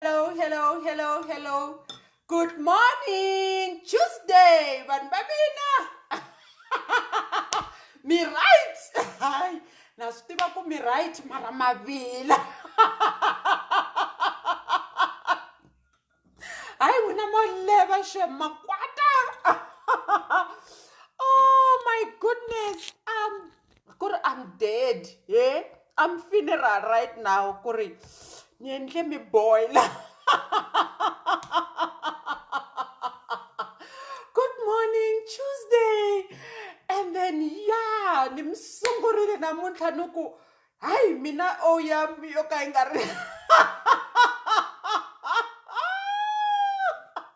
Hello, hello, hello, hello. Good morning, Tuesday, vanhu va mina. Mi right? Hayi, na swi tiva ku mi right mara mavila. Hayi wena mo leva she makwata. Oh my goodness. Um ku ri I'm dead he I'm funeral right now ku ri ni endle mi boil-a good morning Tuesday and then ya ni mi sungurile namuntlha ni ku hayi mina o ya yo ka yi nga ri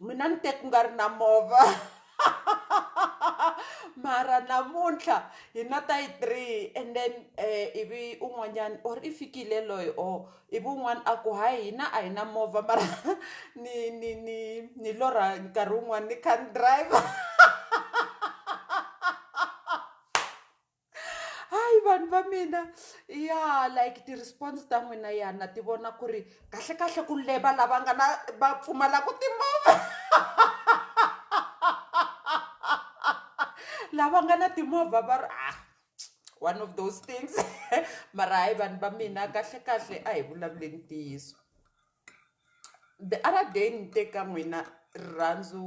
mina ni te ku nga ri na movha mara namuntlha hi na ta yi three and then um ivi un'wanyana or i fikile loyi or ivi un'wana a ku hayi hina a hi na movha mara ni ni ni ni lorha nkarhi wun'wana ni kha ni driver hayi vanhu va mina ya like ti-response ta n'wina ya na ti vona ku ri kahlekahle ku leva lava nga na va pfumalaka timovha lava nga na timovha va ri ah one of those things mara hayi vanhu va mina kahlekahle a hi vulavuleni ntiyiso. The other day ni te ka n'wina rirhandzu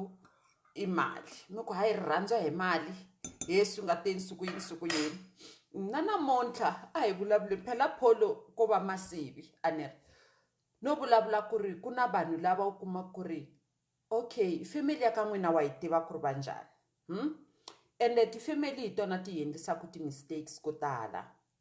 i mali ni ku hayi rirhandzu a hi mali hi ye swi nga te nsuku yini nsuku yini na namuntlha a hi vulavuleni phela pholo ko va masivi a ni ri no vulavula ku ri ku na vanhu lava u kuma ku ri okay family ya ka n'wina wa yi tiva ku ri va njhani ende ti-family hi tona ti hi endlisaku ti-mistakes ko tala.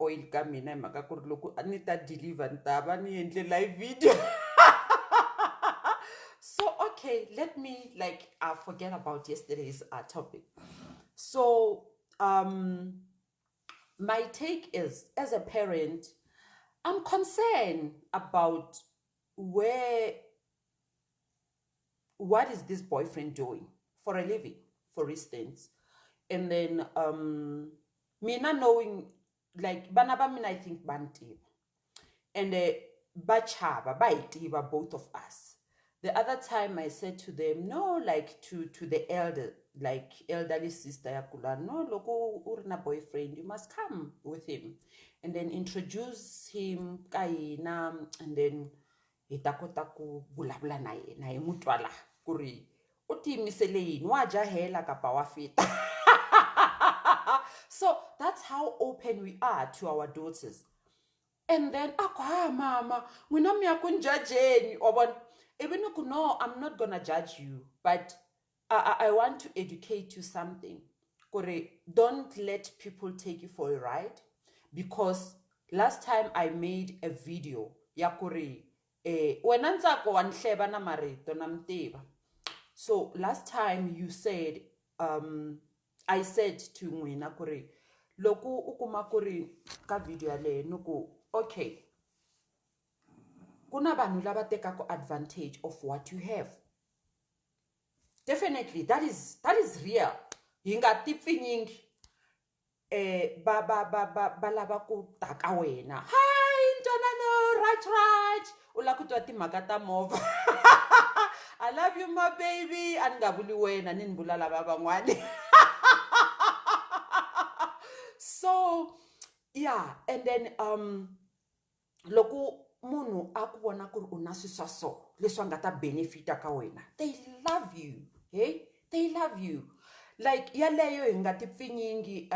oil ka mina hi mhaka ku ri loko a ni ta deliver ni ta va ni endle live video so okay let me like uh, forget about yesterday's uh, topic so um my take is as a parent i'm concerned about where what is this boyfriend doing for a living for instance and then um mina knowing like vana va mina i think va ni tiva and uh, va chava va hi tiva both of us the other time i said to them no like to to the elder like elderly sister ya kula no loko u ri na boyfriend you must come with him and then introduce him ka hina and then hi ta kota ku vulavula na yena hi n'wi twa laha ku ri u tiyimisele yini wa jahela kapa wa fita so that's how open we are to our daughters and then a ku ha mama n'wina mi ya ku ni jajeni wa vona ivi ni ku no i'm not gonna judge you but I, I, I want to educate you something kore don't let people take you for a ride because last time i made a video ya kore eh, wena ntsako wa nhleva na marito na mtiva so last time you said um, i said to n'wina ku ri loko u kuma ku ri ka video yaleyo ni ku okay ku na vanhu lava tekaka advantage of what you have Definitely that is that is real hi nga ti pfinyingi um va va va va va lava ku ta ka wena hi ntwanano rach rach u lava ku twa timhaka ta movha i love you my baby a ni nga vuli wena ni ni vula lava van'wani so yeah and then um loko munhu a ku vona ku ri u na swilo swa so leswi a nga ta benefit-a ka wena they love you heyi they love you like yaleyo hi nga ti pfinyingi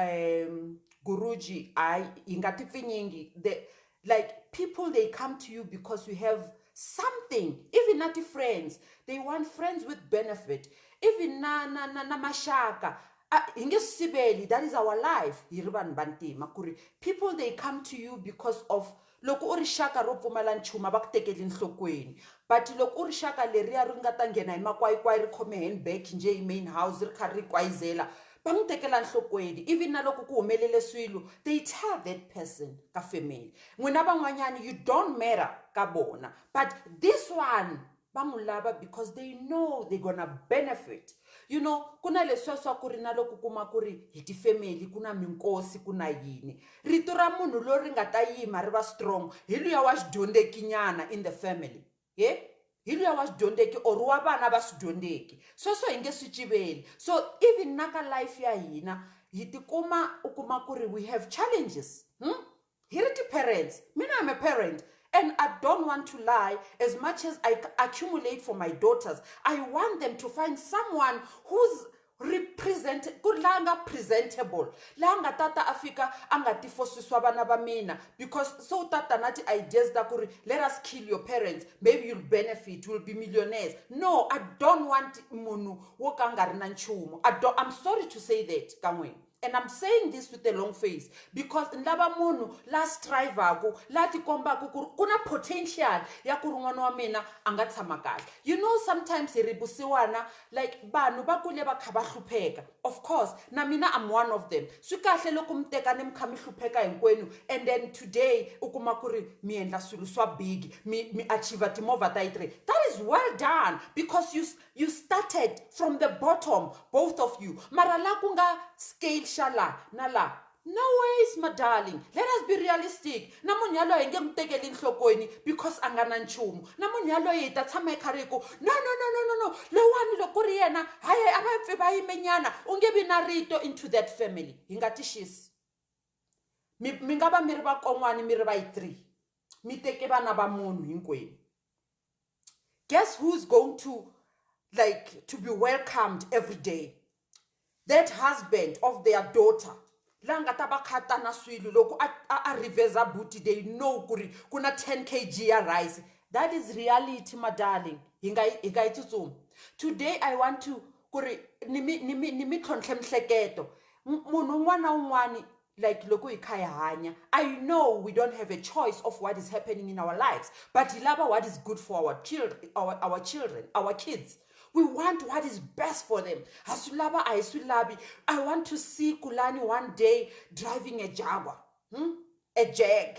guruji hayi hi nga ti pfinyingi the like people they come to you because you have something even na ti-friends they want friends with benefit even na na na na maxaka. A hi nge swi siveli that is our life hi ri vanhu vantima ku ri people they come to you because of loko u ri xaka ro pfumala nchumu a va ku tekeli enhlokweni but loko u ri xaka leriya ri nga ta nghena hi makwayikwayi ri khome handbag njhe hi main house ri kha ri kwayizela va n'wi tekela nhlokweni even na loko ku humelele swilo they tell that person ka family n'wina van'wanyana you don't matter ka vona but this one va n'wi lava because they know they gonna benefit you know ku na leswiya swa ku ri na loko kuma ku ri hi tifemeli ku na minkosi ku na yini rito ra munhu loyi ri nga ta yima ri va strong hi luya wa xidyondzekinyana in the family he hi luya wa xidyondzeki or wa vana va swidyondzeki sweswo hi nge swi civeli so even na ka life ya hina hi tikuma u kuma ku ri we have challenges hmm? Hi ri ti-parents, mina I'm a parent and I don't want to lie as much as I accumulate for my daughters. I want them to find someone who's represent ku la nga presentable la nga tata a fika a nga tifosiswa vana va mina because so u tata na ti-ideas ta ku ri let us kill your parents maybe you'll benefit will be millionaires no i don't want munhu wo ka a nga ri na nchumu i'm sorry to say that ka n'wina and i'm saying this with a long face because ni lava munhu la strivaku la tikombaku ku ri ku na potential ya ku ri n'wana wa mina a nga tshama kahle you know sometimes hi ri vusiwana like vanhu va kule va kha va hlupheka of course na mina am one of them swi kahle loko mi teka ni mi kha mi hlupheka hinkwenu and then today u kuma ku ri mi endla swilo swa big mi mi achiever timovha ta yi three that is well done because you You started from the bottom, both of you. Mara la ku nga scale xa la na la. No ways, my darling. Let us be realistic. Na munhu yaloye hi nge n'wi tekeli enhlokweni because a nga na nchumu. Na munhu yaloye hi ta tshama hi karhi hi ku, no, no, no, no, no, no, lowani loko ku ri yena, hayi hayi a va pfi va yimenyana, u nge vi na rito into that family. Hi nga ti xisi. Mi mi nga va mi ri vakon'wani mi ri va yi three, mi teke vana va munhu hinkwenu. guess who's going to like to be welcomed every day that husband of their daughter la nga ta va khata na swilo loko a a, a revesa buti they know ku ri ku na 10 kg ya rice that is reality my darling hi nga yi- hi nga yi tsutsumi today i want to ku ri ni mi- ni mi- ni mi tlhontlhe mihleketo M- munhu un'wana na un'wana like loko hi kha hi hanya i know we don't have a choice of what is happening in our lives but hi lava what is good for our children our, our children our kids we want what is best for them ha swi lava a hi swi lavi i want to see kulani one day driving a jaguar hmm? a jag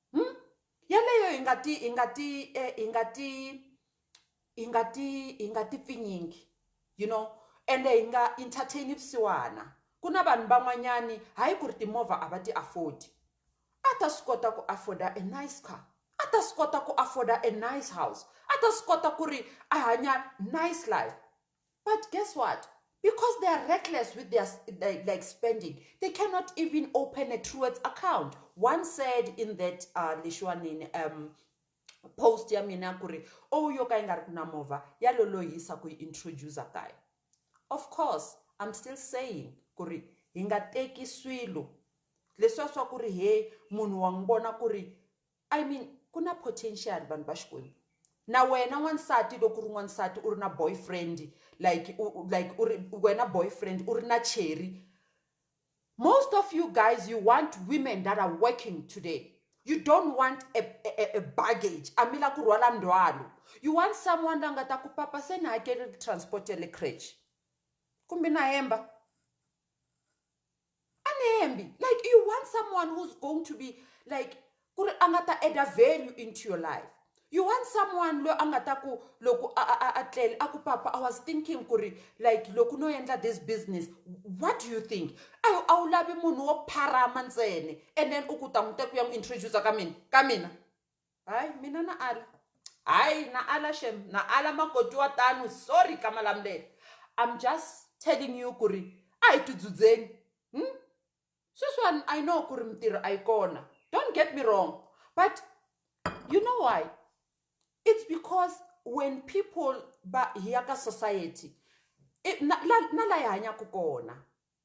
Hmm? Yaleyo hi nga ti hi nga ti eh, hi nga ti hi nga ti hi nga ti pfinyingi you know ende hi nga entertain vusiwana ku na vanhu van'wanyani hayi ku ri timovha a va ti afford a ta swi kota ku afforda a nice car a ta swi kota ku afforda a nice house a ta swi kota ku ri a hanya nice life But guess what? Because they are reckless with their like, like spending, they cannot even open a Truworths account. One said in that uh, Lishwanin um, post ya mina kuri oh yo ka yi nga ri ku na movha ya lolohisa ku yi introduce kaya of course i'm still saying ku ri hi nga teki swilo leswiya swa ku ri he munhu wa n'wi vona ku ri I mean ku na potential vanhu va Xikwembu na wena n'wansati loko u ri n'wansati u ri na boyfriend like u u like u ri wena boyfriend u ri na cheri most of you guys you want women that are working today you don't want a, a, a- a baggage a mi la ku rhwala ndzhwalo you want someone la nga ta ku papa se ni hakele transport ya le crèche kumbe na hemba anihembi like you want someone who's going to be like ku ri a nga ta add-a value into your life you want someone loyi a nga ta ku loko a tlele a ku papa i was thinking ku ri like loko no endla this business what do you think a a wu lavi munhu wo pharama ntsene and then u ku ta n'wi te ku ya n'wi introduce ka mina ka mina Hayi mina na ala hayi na ala shem na ala makoti wa tano sorry ka Malamulele I'm just telling you ku ri a hi tidzudzeni sweswiwani I know ku ri mintirho a yi kona don't get me wrong but you know why it's because when people va hi ya ka society na la na la hi hanyaka kona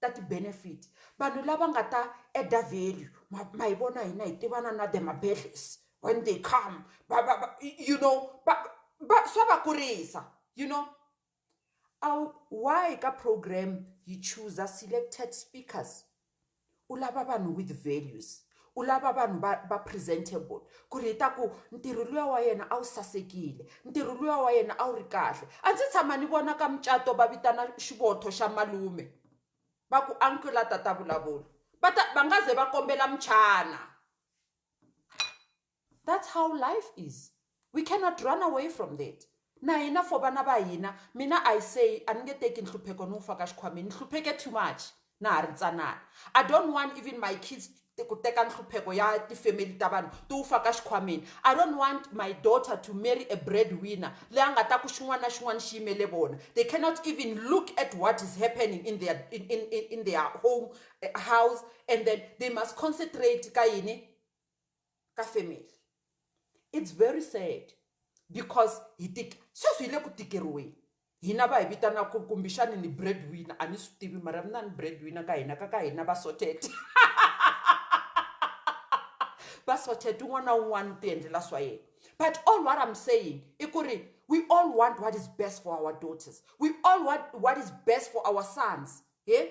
ta ti benefit vanhu lava nga ta add-a value ma ma hi vona hina hi tivana na the mabedlhesi when they come va va va you know va va swa va kurisa you know a wu why ka program yi chooser selected speakers u lava vanhu with values U lava vanhu va va presentable ku ri hi ta ku ntirho luya wa yena a wu sasekile ntirho luya wa yena a wu ri kahle a ndzi tshama ni vona ka mucato va vitana xivotho xa malume va ku uncle la tata vulavula va ta va nga ze va kombela muchana. That's how life is we cannot run away from that na hina for vana va hina mina I say a ni nge teki nhlupheko ni wu faka xikhwameni ni hlupheke too much na ha ri ntsanana I don't want even my kids ku teka nhlupheko ya tifemeli ta vanhu ti wu faka xikhwameni I don't want my daughter to marry a bread winner leyi a nga ta ku xin'wana na xin'wana xi yimele vona they cannot even look at what is happening in their in, in, in their home eh, house and then they must concentrate ka yini ka family it's very sad because hi tika sweswi hi le ku tikeriweni hina va hi vitanaka kumbexani ni bread winner a ni swi tivi mara mi na ni bread winner ka hina ka ka hina va sorted va sorted un'wana na un'wana u ti endlela swa yena but all what i'm saying i ku ri we all want what is best for our daughters we all want what is best for our sons he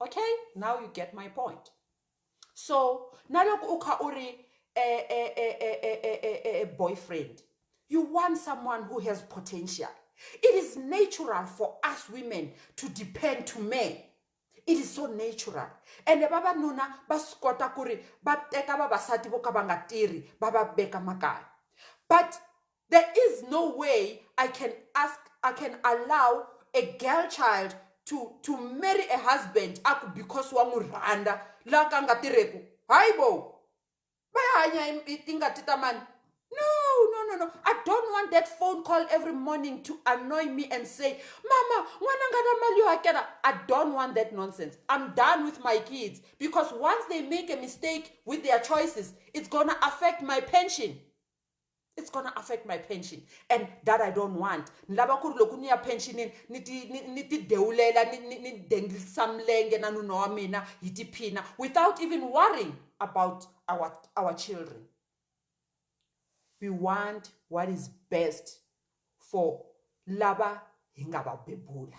okay now you get my point so na loko u kha u ri e, e, e, boyfriend you want someone who has potential it is natural for us women to depend to men it is so natural ende vavanuna va swi kota ku ri va teka vavasati vo ka va nga tirhi va va veka makaya but There is no way I can ask, I can allow a girl child to, to marry a husband aku because wa n'wi rhandza la ka nga tirheku hayi bo va ya hanya tingati ta mani no no no no i don't want that phone call every morning to annoy me and say mama n'wana nga na mali yo hakela i don't want that nonsense i'm done with my kids because once they make a mistake with their choices it's gonna affect my pension it's gonna affect my pension and that i don't want ni lava ku ri loko ni ya pensionini ni ti ni ni ti dewulela ni ni ni dengisa milenge na nuna wa mina hi tiphina without even worrying about our our children we want what is best for lava hi nga va bebula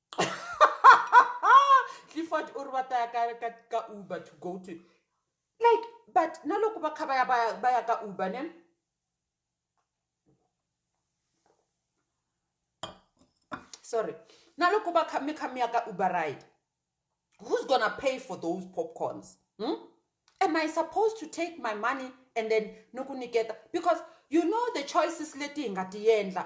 clifford u ri va ta ya ka ka ka uber to go to like but na loko va kha va ya va ya va ya ka uber ne sorry na loko va kha mi kha mi ya ka uber ride who's gonna pay for those popcorns hmm? am i supposed to take my money and then ni ku niketa because you know the choices leti hi nga ti endla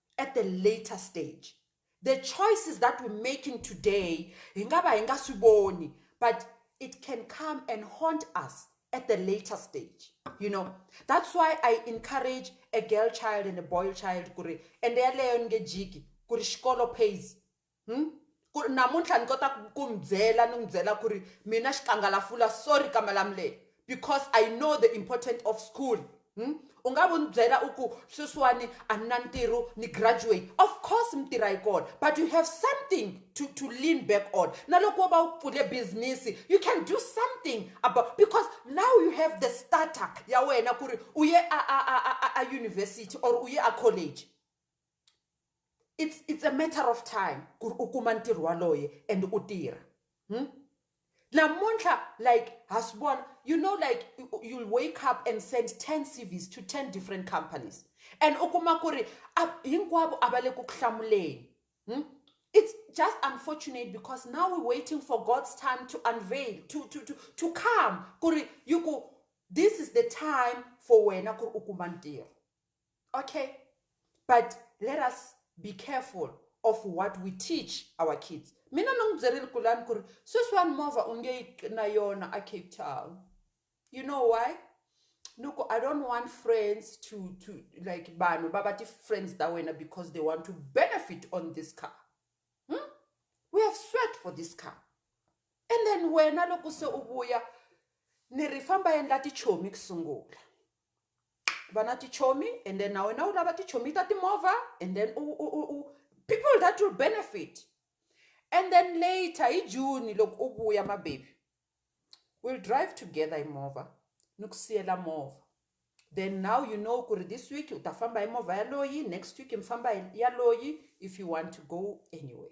at a later stage the choices that we're making today hi nga va hi nga swi voni but it can come and haunt us at the later stage you know that's why i encourage a girl child and a boy child ku ri ende yaleyo ni nge jiki ku ri xikolo pays ku ri namuntlha ni kota ku ku mi byela ni n'wi byela ku ri mina xikangalafula sorry ka malamulele because i know the important of school u nga vu ni byela u ku sweswiwani a ni na ntirho ni graduate of course mi tirha yi kona but you have something to, to lean back on na loko wo va u pfule business you can do something about because now you have the starter ya wena ku ri u ye a, a, a, a, a university or u ye a college it's it's a matter of time ku ri u kuma ntirho waloye and u tirha hmm? namuntlha like ha swi vona you know like you'll wake up and send 10 cvs to 10 different companies and u kuma ku ri hinkwavo a va le ku ku hlamuleni hmm? it's just unfortunate because now we're waiting for god's time to unveil to, to, to, to come ku ri yi ku this is the time for wena ku ri u kuma ntirho okay but let us be careful of what we teach our kids mina ni n'wi byerile kulani ku ri sweswiwani movha u nge yi na yona a cape town you know why ni ku i don't want friends to to like vanhu va va ti-friends ta wena because they want to benefit on this car hmm? we have sweat for this car and then wena loko se u vuya ni ri famba endla tichomi ku sungula vana tichomi and then na wena u lava tichomi ta timovha and then u, u, u, u people that will benefit and then later hi june loko u vuya mabebi will drive together hi movha ni ku siyela movha then now you know ku ri this week u ta famba hi movha yaloyi next week mi famba hi yaloyi if you want to go anyway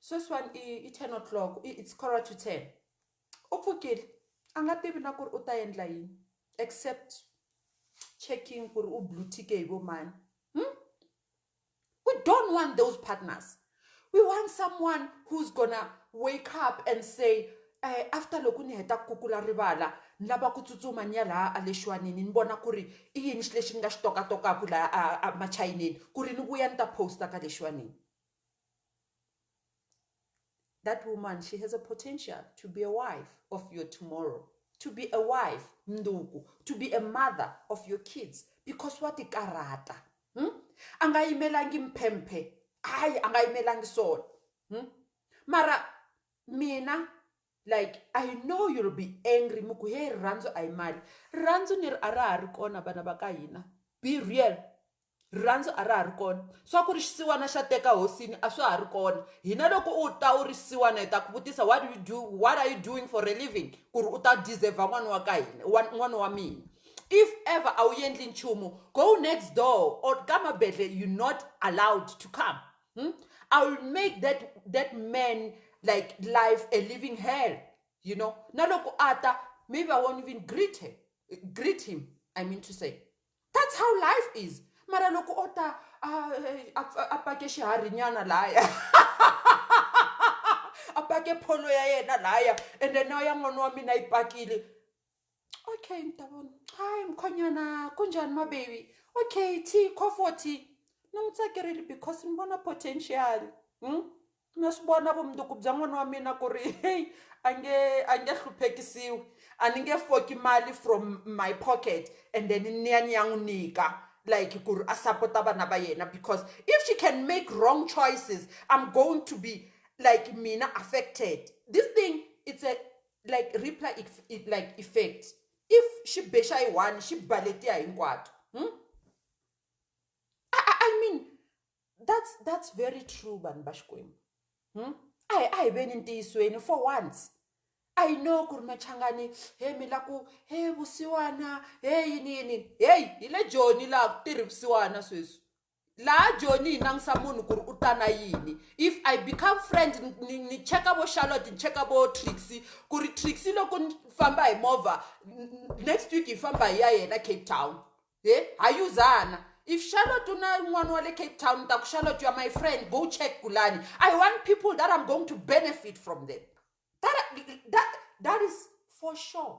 sweswiwani i i ten o'clock i it's quarter to ten u pfukile a nga tivi na ku ri u ta endla yini except checking ku ri u blue tick hi vo mani we don't want those partners we want someone who's gonna wake up and say um after loko ni heta ku kukula rivala ni lava ku tsutsuma ni ya laha a le xiwanini ni vona ku ri i yini xi lexi ni nga xi tokatokaku laha a a machayinini ku ri ni vuya ni ta post-a ka le xiwanini That woman, she has a potential to be a wife of your tomorrow, to be a wife, nduku, to be a mother of your kids because wa tikarata. Hmm? A nga yimelangi mphemphe. Hayi, a nga yimelangi swona. Hmm? Mara mina Like I know you'll be angry mi ku he rirhandzu a hi mali rirhandzu ni ri a ra ha ri kona vana va ka hina be real rirhandzu a ra ha ri kona swa ku ri xisiwana xa teka hosini a swa ha ri kona hina loko u ta u ri xisiwana hi ta ku vutisa what do you do what are you doing for a living ku ri u ta deserve n'wana wa ka hina wa n'wana wa mina if ever a wu endli nchumu go next door or ka mabedle you not allowed to come Hmm? I will make that that man like life a living hell. You know, naloko ata, maybe I won't even greet her, greet him. I mean to say, that's how life is. Mara loko ota ah, eh, apake shihari nyana laya. apake polo ya yena laya. And then now ya mwana wa mina ipakile. okay mntabona hayi mkhonyana kunjani mabebi okay t comforty ni n'wi tsakerile because ni vona potential hmm? na swi vona vumundzuku bya n'wana wa mina ku ri heyi a nge a nge hluphekisiwi a ni nge foki mali from my pocket and then ni ya ni ya n'wi nyika like ku ri a sapota vana va yena because if she can make wrong choices i'm going to be like mina affected this thing it's a like reply like effect if xi be xa yi one xi ba letiya hinkwato hmm? I, I, I mean that's that's very true vanhu va xikwembu hmm? a hi a hi veni ntiyisweni for once I know ku ri machangani he mi la ku he vusiwana he yini yini heyi hi le joni laha ku tirhi vusiwana sweswi laha joni yi langutisa munhu ku ri u ta na yini if i become friend ni ni cheka vo charlotte ni cheka vo trixy ku ri trixy loko ni famba hi movha next week hi famba hi ya yena cape town he ha yuzana if charlotte u na n'wana wa le cape town ni ta ku charlotte ya my friend go check kulani i want people that i'm going to benefit from them that, that, that is for sure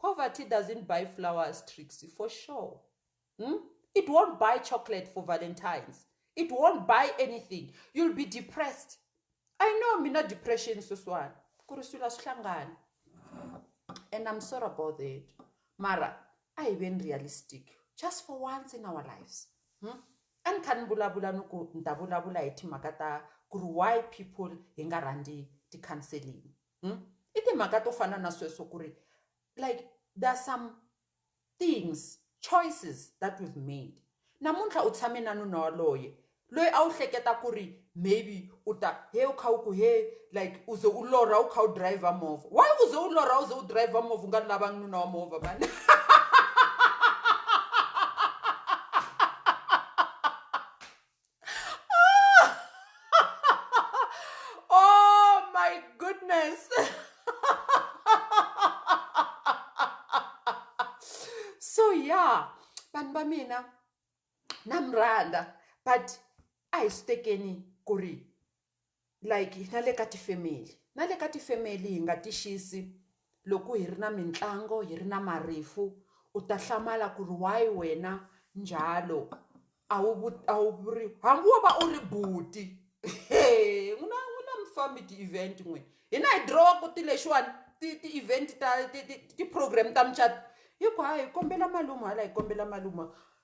Poverty doesn't buy flowers Trixie for sure hmm? it won't buy chocolate for valentines it won't buy anything you'll be depressed i know mina depression sweswiwani ku ri swilo a swi hlangani and i'm sorry about that mara a hi veni realistic just for once in our lives hmm? a ni kha ni vulavula ni ku ni ta vulavula hi timhaka ta ku ri why people hi nga rhandzi ti-counseling Hmm? I timhaka to fana na sweswo ku ri like there are some things choices that we've made namuntlha u tshame na nuna waloye loyi a wu hleketa ku ri maybe u ta he u kha u ku he like u ze u lorha u kha u driver movha why u ze u lorha u ze u driver movha u nga lavangi nuna wa movha mani oh my goodness. so yeah, vanhu va mina na mi rhandza but a hi swi tekeni ku ri like na le ka ti family na le ka ti family hi nga ti xisi loko hi ri na mitlangu hi ri na marifu u ta hlamala ku ri why wena njalo a wu a wu vuri hambi wo va u ri buti heyi n'wina n'wina mi fambi ti event n'we hina hi dirowa ku ti lexiwani ti ti event ta ti ti ti program ta mucato hi ku hayi hi kombela malume hala hi kombela malume.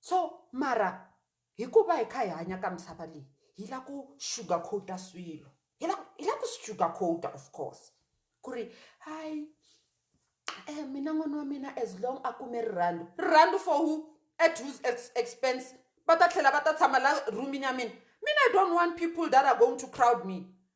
So mara hikuva hi kha hi hanya ka misava leyi hi la ku sugar coat-a swilo hi la hi la ku swi sugar coat-a of course ku ri hayi um mina n'wana wa mina as long a kume rirhandzu rirhandzu for who at whose expense va ta tlhela va ta tshama la room-ini ya mina mina i don't want people that are going to crowd me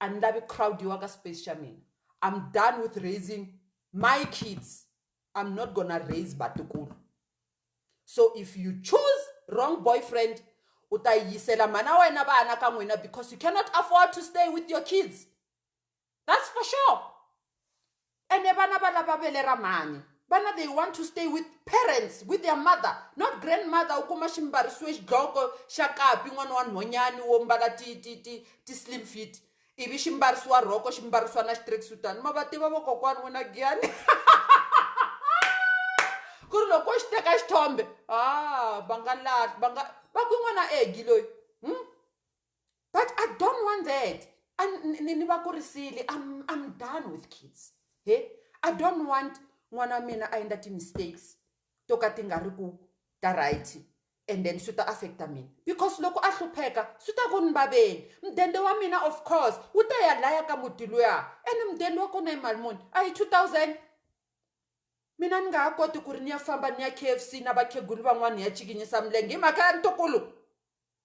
a ni lavi crowd-iwa ka space xa mina I'm done with raising my kids I'm not gonna raise vatukulu so if you choose wrong boyfriend u ta yisela mhana wena vana ka n'wina because you cannot afford to stay with your kids that's for sure ene vana va lava vele ra mhani vana they want to stay with parents with their mother not grandmother u kuma xi mbarisiwe xidloko xa kapi n'wana wa nhonyani wo mbala ti ti ti ti slim fit ivi xi mbarisiwa rhoko xi mbarisiwa na xitracksuitani ma va tiva vokokwani wena giyani ku ri loko xi teka xithombe a ah, va nga lahli va nga va ku n'wana egi loyi hmm? but i don't want that ni va kurisile I'm, i'm done with kids he i don't want n'wana wa mina a endla ti-mistakes to ka ti nga ri ku ta right and then swi ta affecta mina because loko a hlupheka swi ta ku ni vaveni mudende wa mina of course wu ta ya laya ka muti luya ene mudende wa kona hi mali muni a hi two thousand mina ni nga ha koti ku ri ni ya famba ni ya k f c na vakhegulu van'wana hi ya cikinyisa milenge hi mhaka ya ntokolo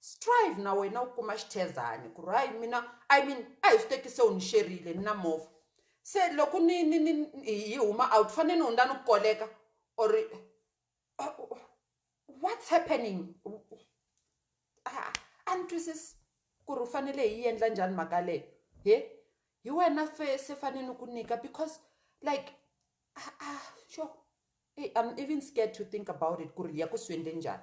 Strive na wena u kuma xithezani ku ri hayi mina I mean a hi swi teki se u ni xerile ni na movha se loko ni ni ni hi huma out fane ni hundza ni ku koleka or what's happening a a ni twisisi ku ri u fanele hi yi endla njhani mhaka yaleyo he hi wena se se fane ni ku nyika because like a sure I'm even scared to think about it ku ri hi ya ku swi endle njhani .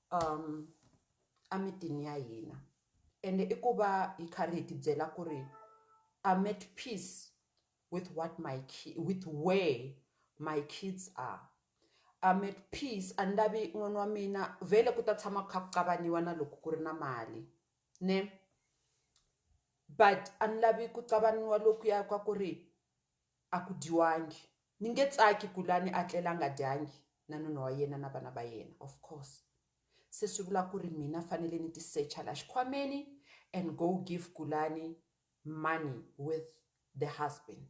emitini ya hina ende i ku va hi karhi hi ti byela ku ri I'm at peace with what my with where my kids are, I'm at peace a ni lavi n'wana wa mina vhele ku ta tshama ku kha ku kavanyetiwa na loko ku ri na mali ne but a ni lavi ku kavanyetiwa lokuya ka ku ri A ku dyiwangi. Ni nge tsaki ku lwa ni a tlela a nga dyangi na nuna wa yena na vana va yena. Of course. Se swi vula ku ri mina fanele ni ti secha la xikhwameni and go give Gulani money with the husband.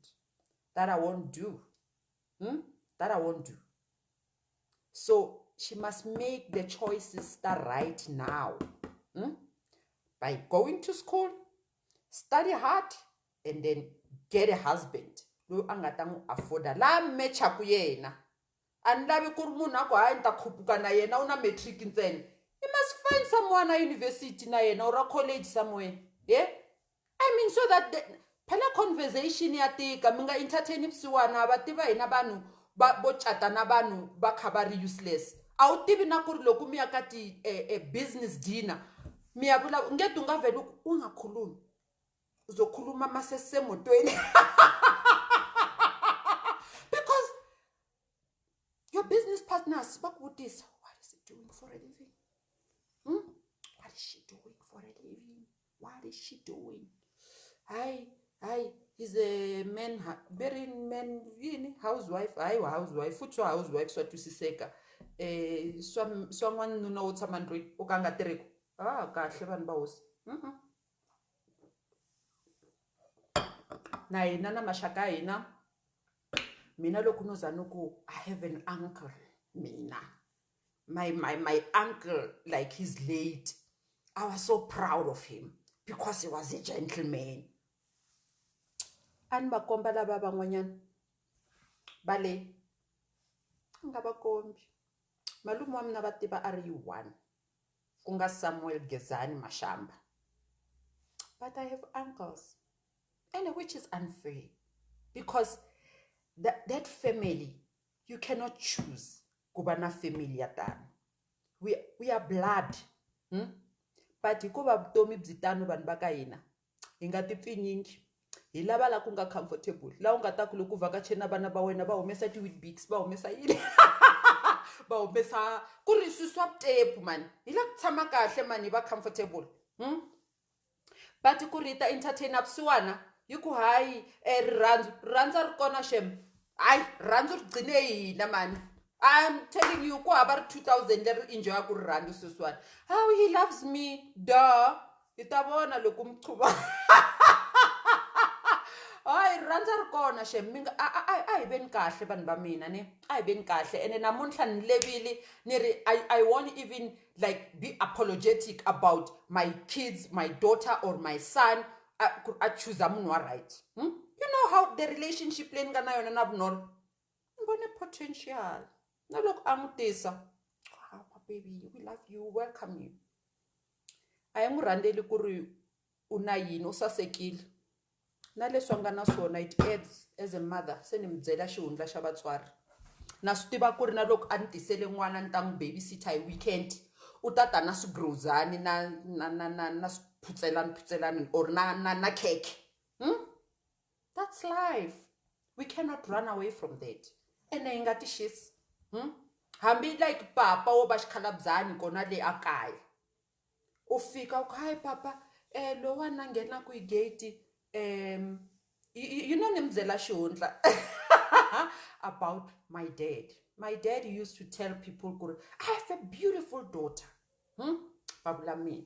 That I won't do. Umm that I won't do. So she must make the choices ta right now umm by going to school, study hard, and then get a husband loyi a nga ta n'wi afforda laha mechaku yena a ni lavi ku ri munhu a ku hayi ni ta khupuka na yena u na matric ntsena i must find someone a university na yena or a college somewhere ye i mean so that the, phela conversation ya tika mi nga entertain vusiwana va tiva hina vanhu va vo cata na vanhu va kha va ri useless a wu tivi na ku ri loko mi ya ka ti-business eh, eh, dinner mi ya vulavula nge ti u nga veli u nga khulumi uzokhuluma masesemotweni because your business partners bakubutisa what is it doing for a living hmm? what is she doing for a living what is she doing hayi hayi is a man very man yini housewife hayi wa housewife futhi wa housewife swa twisiseka eh swa swa n'wanuna wo tshama ndlwini u ka nga tirhiku ah kahle vanhu va hosi mm -mm. na hina na maxaka ya hina mina loko no za ni ku i have an uncle mina my my my uncle like his late i was so proud of him because he was a gentleman a ni va komba lava van'wanyana va le a nga va kombi malume wa mina va tiva a ri yi one ku nga Samuel Gezani Mashamba but I have uncles ene which is unfair because that, that family you cannot choose ku va na family ya tano we, we are blood hmm? but hikuva vutomi byi tano vanhu va ka hina hi nga ti pfinyingi hi lava la ku nga comfortable la u nga ta ku loko u vhakacheni na vana va wena va humesa ti-weetbix va humesa yini va humesa ku ri swi swa tepu mani hi la ku tshama kahle mani hi va comfortable hmm? but ku ri hi ta entertain vusiwana hi ku hayi um eh, rirhandzu rirhandzu a ri kona xem hayi rirhandzu ri gcine hina mani I'm telling you, ku hava ri 2000 leri enjoyaku rirhandzu sweswiwani. How he loves me, duh. hi ta vona loko mi chuva hayi rirhandza ri kona xem mi nga a a a a hi veni kahle vanhu va mina ni a hi veni kahle ene namuntlha ni levile ni ri i i won't even like be apologetic about my kids my daughter or my son a ku ri a chuza munhu wa right hmm? you know how the relationship leyi ni nga na yona na vunolo ni vone potential na loko a n'wi tisa hawu mababy we love you welcome you a hi n'wi rhandzeli ku ri u na yini u sasekile na leswi a nga na swona it adds as a mother se ni mi byela xihundla xa vatswari na swi tiva ku ri na loko a ni tisele n'wana ni ta n'wi baby sitter hi weekend u ta ta na swigrozani na na na na na swiphutselani phutselani or na na na khekhe . that's life we cannot run away from that ene hi nga ti xisi hambi like papa wo va xikhalabyani kona le a kaya u fika u ku hayi papa lowani a nghenaka hi gate you know ni mi byela xihundla about my dad my dad used to tell people ku ri I have a beautiful daughter va vula mina.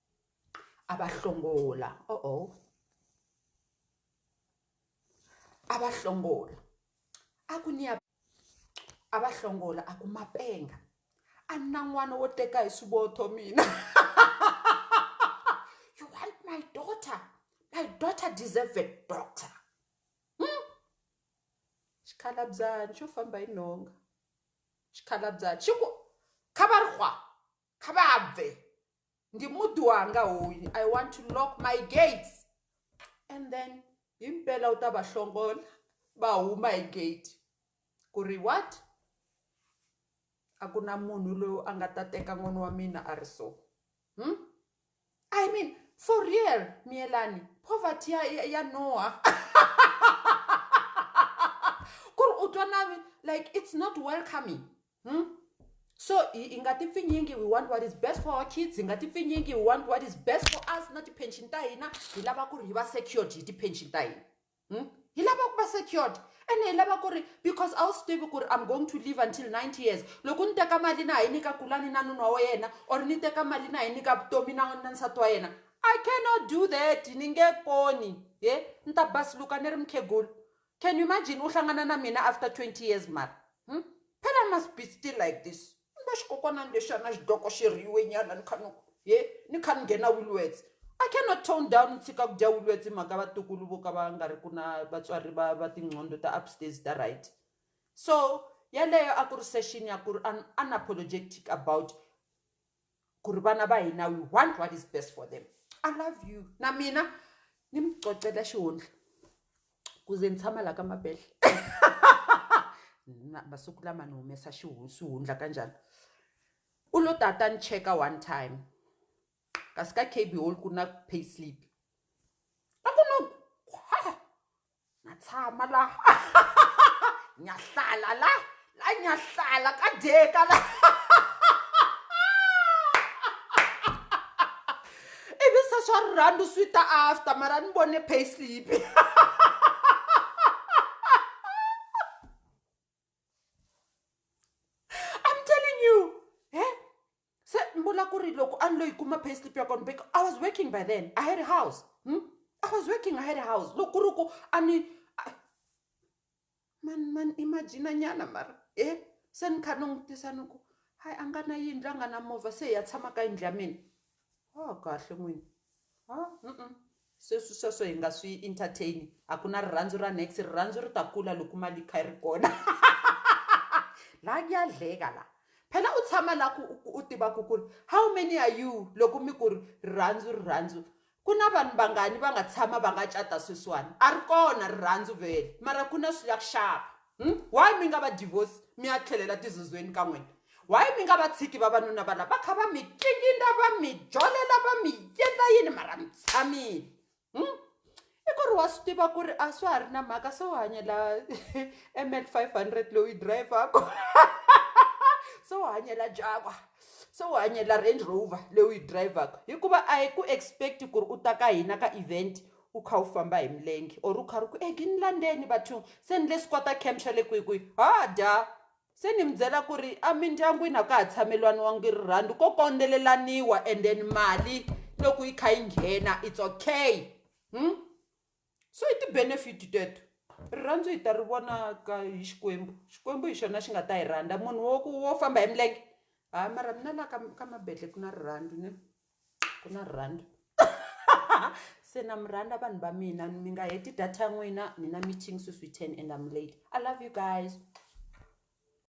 a va hlongola oh oh a va hlongola a ku ni ya a va hlongola a ku mapenga a ni na n'wana wo teka hi swivotho mina you want my daughter my daughter deserve a doctor hmm? xikhalabyani xo famba hi nhonga xikhalabyani xi ku kha va ri hwa kha vha bve ndi muḓi wanga hoyu i want to lock my gates and then hi mpela u ta va hlongola va huma hi gate ku ri what a ku na munhu loyi a nga ta teka n'wana wa mina a ri so hmm? i mean for real miyelani poverty ya, ya, ya noha ku ri u twa nami like it's not welcoming Hmm? so hi, hi nga tipfinyingi we want what is best for our kids hi nga tipfinyingi we want what is best for us na tipension ta hina hi lava ku ri hi va secured hi tipension ta hina hmm? hi lava ku va secured ene hi lava ku ri because a wu swi tivi ku ri i'm going to live until 90 years loko ni teka mali na ha yi nyika kulani na nuna wa yena or ni teka mali na ha yi nyika vutomi na na nsati wa yena i cannot do that ni nge koni ye ni ta basiluka ni ri mukhegulu Can you imagine u hlangana na mina after 20 years mara hm phela I must be still like this ni va xikokwanani lexi a na xidoko xi rhiyiwe nyana ni kha ni ku he ni kha ni nghena Woolworths I cannot tone down ni tshika ku dya Woolworths hi mhaka vatukulu vo ka va nga ri ku na vatswari va va tinqondo ta upstairs ta right so yaleyo a ku ri session ya ku ri unapologetic about ku ri vana va hina we want what is best for them i love you na mina ni mi cocela xihundla ku ze ni tshama laha ka mabedle masiku lama ni humesa xihundla ka njhani u lo tata ni cheka one time kasi ka kb hall ku na pay slip a ku no natshama la nyahlala la la nyahlala ka dyeka la ivi se swa rirhandu swi ta after mara ni vone payslip I'm telling you he se ni vula ku ri loko a ni lo yi kuma pay slip ya kona because I was working by then I had a house hmm? I was working I had a house loko ku ri ku a ni man man imagine nyana mara e se ni kha ni n'wi tisa ni ku hayi a nga na yindlu a nga na movha se hi ya tshama ka yindlu ya mina ha kahle n'wini ha mm sweswi sweswo hi nga swi entertain a ku na rirhandzu ra next rirhandzu ri ta kula loko mali yi kha yi ri kona la ku ya dleka la phela u tshama la ku u tiva ku ku ri how many are you loko mi ku ri rirhandzu rirhandzu ku na vanhu vangani va nga tshama va nga cata sweswiwani a ri kona rirhandzu vhele mara ku na swi ya ku xava Hm why mi nga va divorce mi ya tlhelela tizozweni ka n'wina why mi nga va tshiki vavanuna va lava va kha va mi kikindla va mi jolela va mi yendla yini mara mi tshamile hm i ku ri wa swi tiva ku ri a swa ha ri na mhaka se u hanyela ml five hundred lowu yi dirayivhaka se u hanyela Jaguar se u hanyela Range Rover leyi u yi dirayivhaka hikuva a hi ku expect ku ri u ta ka hina ka event U kha u famba hi milenge or u karhi u ku Eggie ni landzeni bathong se ni le squatter camp xa le kwihi kwihi ha dya se ni mi byela ku ri emindyangwini a ka ha tshamelaniwangi rirhandzu ko kondzelelaniwa and then mali loko yi kha yi nghena it's okay so i ti-benefit teto rirhandzu hi ta ri vona ka hi Xikwembu Xikwembu hi xona xi nga ta hi rhandza munhu wo ku wo famba hi milenge ha mara mina la ka ka Mabedlhe ku na rirhandzu ne. ku na rirhandzu se na mi rhandza vanhu va mina mi nga heti data ya n'wina ni na meeting sweswi ten and am late i love you guys